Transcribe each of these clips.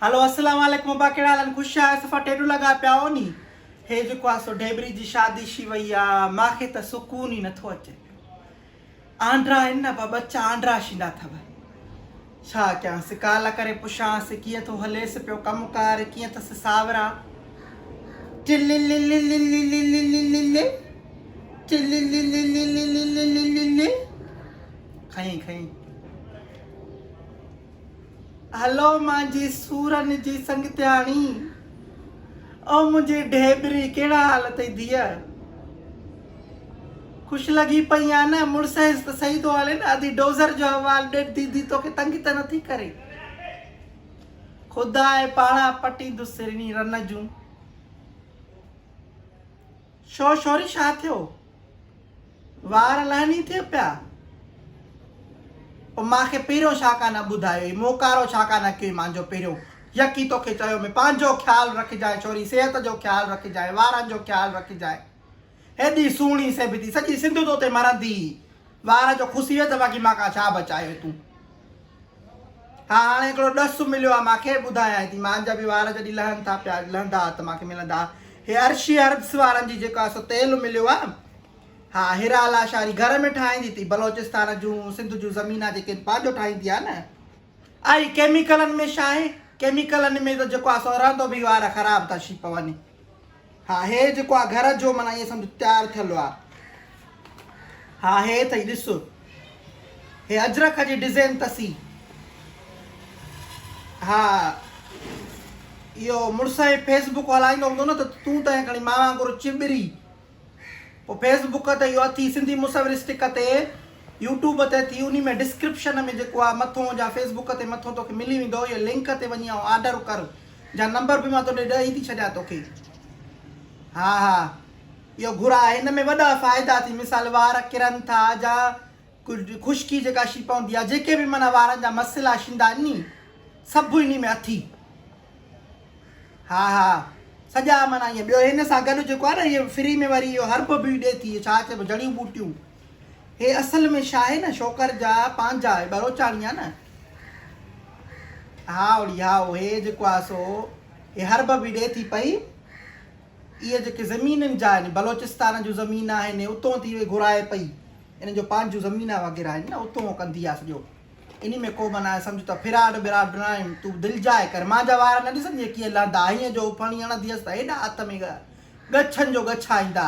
هلو السلام عليڪم ابا ڪهڙا حال آهن خوش آهيو صفا ٽيڊو لڳا پيا آهو ني هي جيڪو آهي سو ڍيبري جي شادي شي وئي آ مان کي ته سڪون ئي نٿو اچي پيو آنڊرا آهن نه ابا ٻچا آنڊرا شيندا اٿو ڇا ڪيانس ڪال ڪري پڇانس ڪيئن ٿو هليس پيو ڪم ڪار ڪيئن اٿس ساورا کئين کئين هلو مانجي سورن جي سنگتياڻي. او منهنجي ڍيبري ڪهڙا حال اٿئي ڌيء. خوش لڳي پئي آن مڙس هيس ته سهي ٿو هلين ادي ڊوزر جو حوال ڏيڊ ديدي توکي تنگ ته نٿي ڪري. خداء پاڻان پٽيندس رني رن جون. ڇو شوري ڇا ٿيو وار لهني ٿئي پيا او مان کي پهريون ڇا ڪا نه ٻڌايو هي مون ڪارو ڇا ڪا نه ڪيو مانجو پهريون يڪي توکي چيو مي پانجو خيال رکجانء ڇوري صحت جو خيال رکجانء وارن جو خيال رکجانء هيڏي سهڻي سيبتي سڄي سنڌ توتي مرندي وار جو کسي ويو ته باقي مان کان ڇا بچايو تون. ها هاڻي هڪڙو ڏس مليو آ مان کي ٻڌايانء ٿي مان جا به وار جڏهن لهن ٿا پيا لهندا ها ته مان کي ملندا ها هي عرشي عربس وارن جي جيڪو آ سو تيل مليو آ ها هيرا لاشاري گهر ۾ ٺاهيندي ٿي بلوچستان جون سنڌ جون زمينا جيڪي آهن پنهنجو ٺاهيندي آ نه اهي ڪيميڪلن ۾ ڇا آهي ڪيميڪلن ۾ ته جيڪو آ سو رهندو به وار خراب ٿا شي پون. ها هي جيڪو آ گهر جو معنيٰ ائين سمجهه تيار ٿيل آ. ها هي ٿئي ڏس. هي اجرڪ جي ڊزين تسي. ها اهو مڙس هي فيس بوڪ هلائيندو هوندو نه ته تون ته هين کڻي مان وانگر چٻري پو فيس بوڪ تي اهو اٿي سنڌي مصوري سٽڪ تي يوٽيوب تي اٿي انهي ۾ ڊسڪرپشن ۾ جيڪو آ مٿون جا فيس بوڪ تي مٿون توکي ملي ويندو اهي لنڪ تي وڃي آئون آرڊر ڪر. جا نمبر به مان تو ڏي ڏئي ٿي ڇڏيان توکي ها ها اهو گهر آهي ان ۾ وڏا فائدا ٿي مثال وار ڪرن ٿا جا خشڪي جيڪا شي پوندي آهي جيڪي به معنيٰ وارن جا مسئلا شيندا آهن ني سڀ اني ۾ اٿي ها ها سڄا معنيٰ ائين ٻيو هن سان گڏ جيڪو آهي نه اهي فري ۾ وري اهو هرب به ڏي ٿي ڇا چئبو جڙيون ٻوٽيون هي اصل ۾ شاهي نه شوڪر جا پانجا هي ٻروچاڻي آ نه هائوڙي هائو هي جيڪو آ سو هي حرب به ڏي ٿي پئي اهي جيڪي زمينن جا آهن بلوچستان جون زمين آهن اتون ٿي اهي گهرائي پئي انهن جو پانجون زمينا وغيره آهن نه اتون ڪندي آ سڄو انهي ۾ ڪو من آهي سمجھ ته فراڊ براڊ نه آهن تون دل جائي ڪر مان جا وار نه ڏسندي ڪيئن لهندا هيئن جو پڻي هڻندي هيس ته هيڏا هٿ ۾ ڳچن جو ڳچا ايندا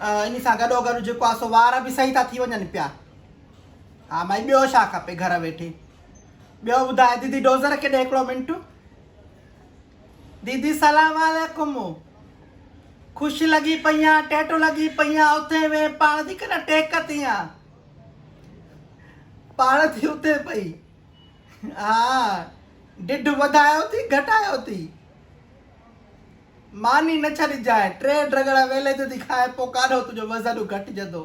ان سان گڏوگڏ جيڪو آ سو وار به صحيح ٿا ٿي وڃن پيا. ها مائي ٻيو ڇا کپي گهر ويٺي. ٻيو ٻڌاء ديدي ڊوزر ڪيڏي هڪڙو منٽ. ديدي سلام عليڪم خوش لڳي پئي آ ٽيٽو لڳي پئي آ اٿي ويهه پاڻ ٿي ڪن ٽيڪ تي آ پاڻ ٿي اٿي پئي ها ڊيڍ وڌايو ٿي گهٽايو ٿي. ماني نه ڇڏجانء، ٽي ڊگهڙا ويلي جو ٿي کاء، پوء ڪاڏهو تنهنجو وزن گهٽجندو.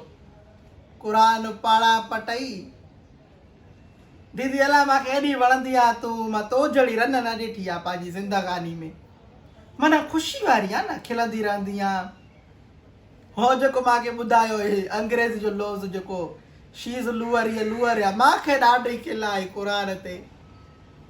قرآن پاڙا پٽئي ديدي الا مانکي ايڏي وڻندي آ تون مان تو جھڙي رن نه ڏٺي آ پنهنجي زندگاني ۾ معنيٰ خوشي واري آ نه کلندي رهندي آ هو جيڪو مانکي ٻڌايو هي انگريزي جو لوز جيڪو شي از لوئر هيء لوئر آ مانکي ڏاڍي کل آئي قرآن تي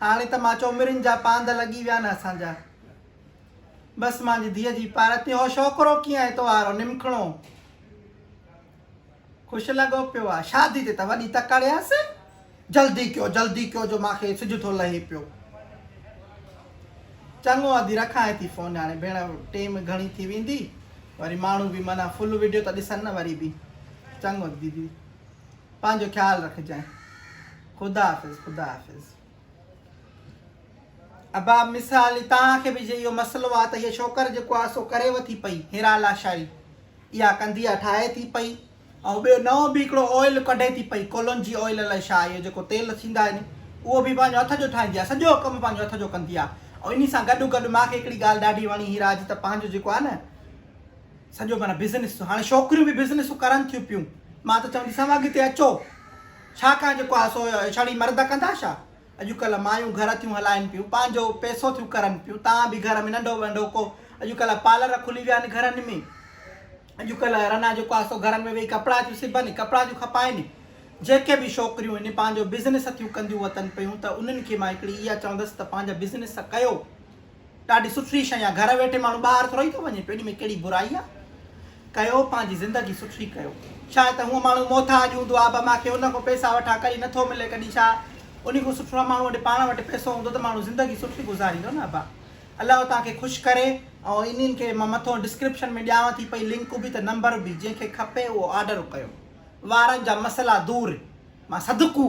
هاڻي ته مان چئو مرين جا پانڌ لڳي ويا نه اسان جا بس مانجي ڌيء جي پار تي هو شوڪرو ڪيئن اتوارو نمکڻو خوش لڳو پيو آ شادي تي ته وڏي تڪڙيس جلدي ڪيو جلدي ڪيو جو مانکي سج ٿو لهي پيو چڱو ادي رکانء ٿي فون هاڻي ڀيڻ ٽيم گهڻي ٿي ويندي وري ماڻهو به معنيٰ فل ويڊيو ته ڏسن نه وري به چڱو ديدي پنهنجو خيال رکجانء خدا حافظ خدا حافظ ابا مثال تان کي به جي يو مسئلو آ ته هي ڇوڪر جيڪو آ سو ڪري وٿي پئي هيرا لاشاري يا ڪندي آ ٺاهي ٿي پئي ۽ ٻيو نئون به هڪڙو آئل ڪڍي ٿي پئي ڪولونجي آئل الائي شا اهو جيڪو تيل ٿيندا آهن اهو به پنهنجو هٿ جو ٺاهيندي آ سڄو ڪم پنهنجو هٿ جو ڪندي آ ۽ انهي سان گڏو گڏ ماکي هڪڙي ڳالهه ڏاڍي وڻي هيرا جي ته پنهنجو جيڪو آ نه سڄو معنی بزنس هاڻي ڇوڪريون به بزنس ڪرن ٿيون پيون مان ته چونديسان اڳتي اچو ڇا ڪان جيڪو آ سو ڇڙي مرد ڪندا ڇا؟ اڄڪلهه مايون گهر ٿيون هلائين پيون، پنهنجو پئسو ٿيون ڪرن پيون، تان به گهر ۾ ننڍو ونڍو ڪو اڄڪلهه پالر کلي ويا آهن گهرن ۾، اڄڪلهه رنا جيڪو آ سو گهرن ۾ ويهي ڪپڙا ٿيون سبن، ڪپڙا ٿيون کپائين، جيڪي به ڇوڪريون هن پنهنجو بزنس ٿيون ڪنديون وتن پيون ته انهن کي مان هڪڙي اها چوندس ته پنهنجا بزنس ڪيو، ڏاڍي سٺري شئي آ گهر ويٺي ماڻهو ٻاهر ٿورئي ٿو وڃي پيو ان ۾ ڪهڙي برائي آ ڪيو پنهنجي زندگي سٺري ڪيو شايد ته هونء ماڻهو محتاج هوندو آ به مان کي ان کان پيسا وٺان ڪري نه ٿو ملي ڪڏهن ڇا انهي کان سٺو آ ماڻهو وٽ پاڻ وٽ پيسو هوندو ته ماڻهو زندگي سٺري گذاريندو نه ابا الله توهان کي خوش ڪري ۽ انهن کي مان مٿو ڊسڪرپشن ۾ ڏيانو ٿي پئي لنڪ به ته نمبر به جنهن کي کپي اهو آرڊر ڪيو وارن جا مسئلا دور مان صدقو.